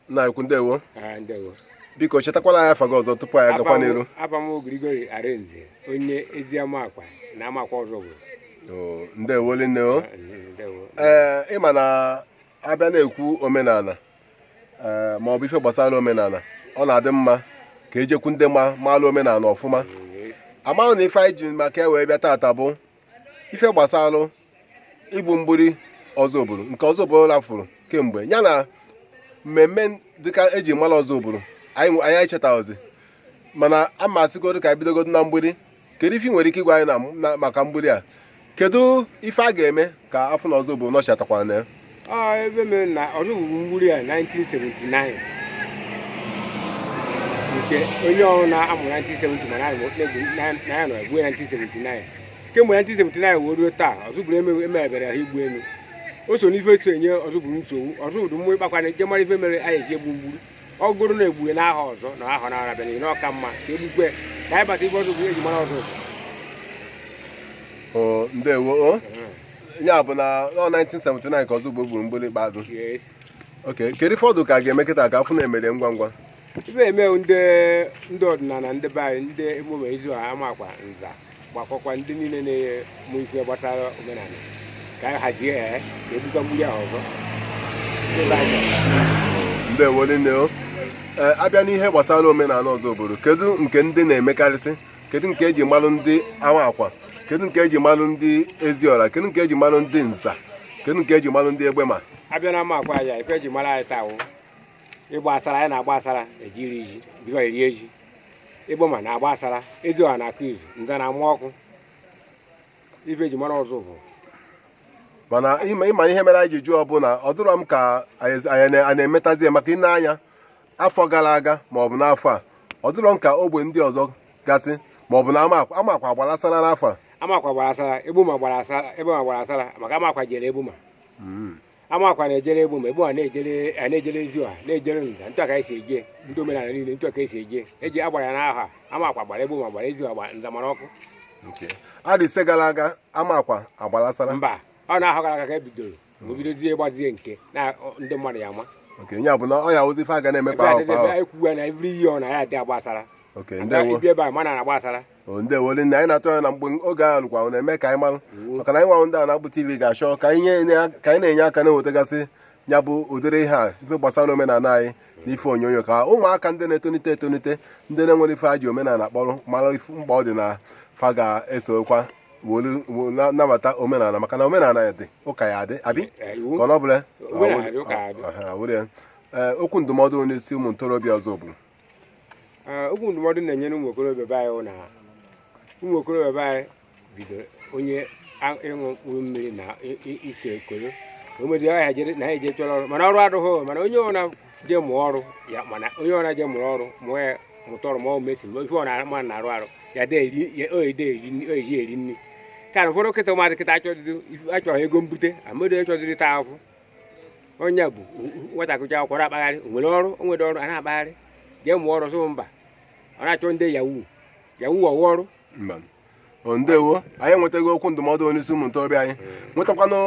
nna ukwu ndewo Ah, ndewo. biko chetakwala anyị afa gị ọzọ tupu anyị agakwa n'iru Abụ m Gregory Arinze, onye Eziamakwa na Amakwa Ọzụbụrụ. Oo, ndewo linne o Ndewo. ee ị ma na a bịa na-ekwu omenala ee ma ọ bụ ife gbasara omenala ọ na-adị mma ka e jekwu ndị ma maalụ omenala ọfụma amaghị na ife anyị ji maka ya wee bịa tata bụ ife gbasara igbu mgburi ọzụbụrụ nke ọzụbụrụ rafụrụ kemgbe ya na mmemme dịka eji mara ọzụbụrụ anyị anyị echetaghịzi mana a ma asịgodu ka i bidogodu na mgburi kedu ife ị nwere ike ịgwa anyị na maka mgburi a kedu ife a ga-eme ka a fụ na ọzụbụrụ nọchatakwara na ya ọ ife mere na ọzụbụrụ gburu mgburi a 1979 nke onye ọrụ na-amụ 1970 mana anyị na-egbu na ya nọ egbu 1979 kemgbe 1979 wee ruo taa ọzụbụrụ eme- emebere ha mgburi o so n'ife so enye ọzụbụrụ nsogbu ọzụbụrụ mmụọ ịkpakwana nke mara ife mere anyị eji egbu mgburi ọ bụrụ na egbughe n'ahọ ọzọ na ahọ na-abịa na ọka mma ka egbukwe ka anyị bata ife ọzụbụrụ eji mara ọzụbụrụ ọ ndewo o ya bụ na ọ 1979 ka ọzụbụrụ gburu mgburi ikpeazụ yes ok kedu ife ọ dụ ka a ga-eme kịta ka a fụ na e mere ngwa ngwa ife eme wụ ndị ndị ọdịnala ndị be anyị ndị egbema eziọra amakwa nza gbakọkwa ndị niile na-eme ife gbasara omenala ka anyị hazie ya ka egbuo mgburi ahụ ọzọ Ndị be anyị chọrọ. ndewo nne o Ee, a bịa n'ihe gbasara omenala ọzụbụrụ kedu nke ndị na-emekarịsị kedu nke eji malụ ndị amakwa kedu nke eji malụ ndị eziọra kedu nke eji malụ ndị nza kedu nke eji malụ ndị egbema a bịa na amakwa ya ife eji mara anyị taa wụ ịgba asara anyị na-agba asara eji eri ji bikọ eri eji egbema na-agba asara eziọra na-akụ izu nza na-ama ọkụ ife eji mara ọzụbụrụ mana ị ma ị ma ihe mere anyị ji jụọ bụ na ọ dịrọ m ka anyị anyị na- anyị na-emetazi ya maka ine anya afọ gara aga maọbụ n'afọ a ọ dịrọ m ka ogbe ndị ọzọ gasị maọbụ na amakwa amakwa agbara asara n'afọ a amakwa gbara asara egbema gbara asara egbema gbara asara maka amakwa jere egbema Mm. amakwa na-ejere egbema egbema na-ejere a na-ejere eziọra na-ejere nza ntụ aka esi eje ndị omenala niile ntụ aka esi eje eji agbara ya n'ahọ a amakwa gbara egbema gbara eziọra gbara nza mara ọkụ Okay. adị ise gara aga amakwa agbara asara mba ọ n'ahọ gara aga ka e bidoro o bidozie gbazie nke na ọ- ndị mmadụ ya ama oke onye abụla ọ ya wụzi ife a ga na-eme ebe kwa ahọ dịzi kwa ebe ahụ anyị kwuwe na every year ọ na ya adị agba asara okay Ada ndewo ibi ebe a mana na-agba asara o ndewo nne anyị na-atụ anya na mgbe oge ahụ lukwa na-eme ka anyị marụ maka na anyị nwa wụ ndị a na-akpụ tv ga-achọ ka anyị nye- nye- ka anyị na-enye aka na-ewetagasị ya bụ ụdịrị ihe a ife gbasara omenala anyị na ife onyonyo ka ụmụaka ndị na-etonite etonite ndị na-enwerọ ife ha ji omenala kpọrọ mara ife mkpa ọ dị na fa ga-esokwa nabata omenala maka na omenala ya dị ụka ya adị abi eh, ka ọ bụla eh, okwu ndụmọdụ onye isi ụmụ ntorobịa Ọzụbụlụ eh, okwu ndụmọdụ na-enyere ụmụ okorobịa be anyị na ụmụ okorobịa be anyị bidoro onye ịṅụ mkpụrụ mmiri na ise ekoro o nwere ya na ha eje chọrọ ọrụ mana ọrụ adịghị mana onye ọ na jee mụọ ọrụ ya mana onye ọna jee mụrụ ọrụ mụọ ya mụta ọrụ ma ọ mesi ma ife ọ na-ama na-arụ arụ ya de eri ya o ede eri nri- o eji eri nri ka na ụfọdụ kịta ụmụazị kịta achọdịdo achọ ego mbute amadụ achọdịdo taa afụ onye bụ nwatakịrị akwụkwọ na-akpagharị o nwere ọrụ o nwere ọrụ a na-akpagharị jee mụọ ọrụ sị mba ọ na-achọ ndị yahoo yahoo ọ wụ ọrụ mba ndewo anyị enwetago okwu ndụmọdụ onye isi ụmụ ntorobịa anyị nwetakwana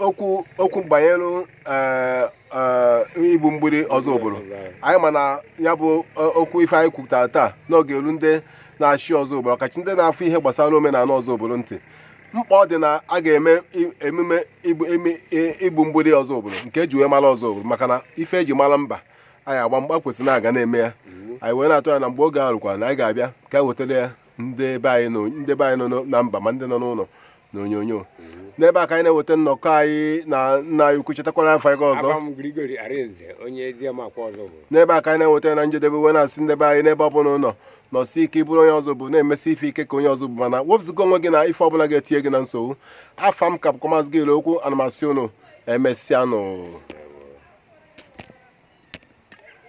okwu okwu banyere eh, eh, igbu mgbiri Ọzụbụlụ anyị ma na ya bụ eh, okwu ife anyị kwupụtara taa na ọ ga-elu ndị na-achị Ọzụbụlụ ọkachị ndị na-afụ ihe gbasara omenala Ọzụbụlụ ntị mkpa ọ dị na a ga-eme emume igbu mgbiri Ọzụbụlụ nke e ji wee mara Ọzụbụlụ maka na ife e ji mara mba anyị agba mgba kwesịrị na a ga na-eme ya anyị wee na-atụ anya na mgbe oge a rukwara na anyị ga-abịa ka e wetara ya ndị be anyị nọ ndị be anyị nọ n'o- na mba ma ndị nọ n'ụlọ n'onyonyo n'ebe a ka anyị na-eweta nnọkọ anyị na nna anyị ukwu chetakwara afọ anyị ọzọ Abam Gregory Arinze onye Eziamakwa Ọzụbụlụ n'ebe a ka anyị na-eweta ya na njedebe wee na-asị ndị be anyị n'ebe ọ bụla ụnụ nọsi ike ị bụrụ onye Ọzụbụlụ na-emesi ife ike ka onye Ọzụbụlụ mana wepụzụga onwe gị na ife ọbụla ga-etinye gị na nsogbu afa m ka bụkwa maazị gịrị okwu a na m asị ụnụ emesịanụ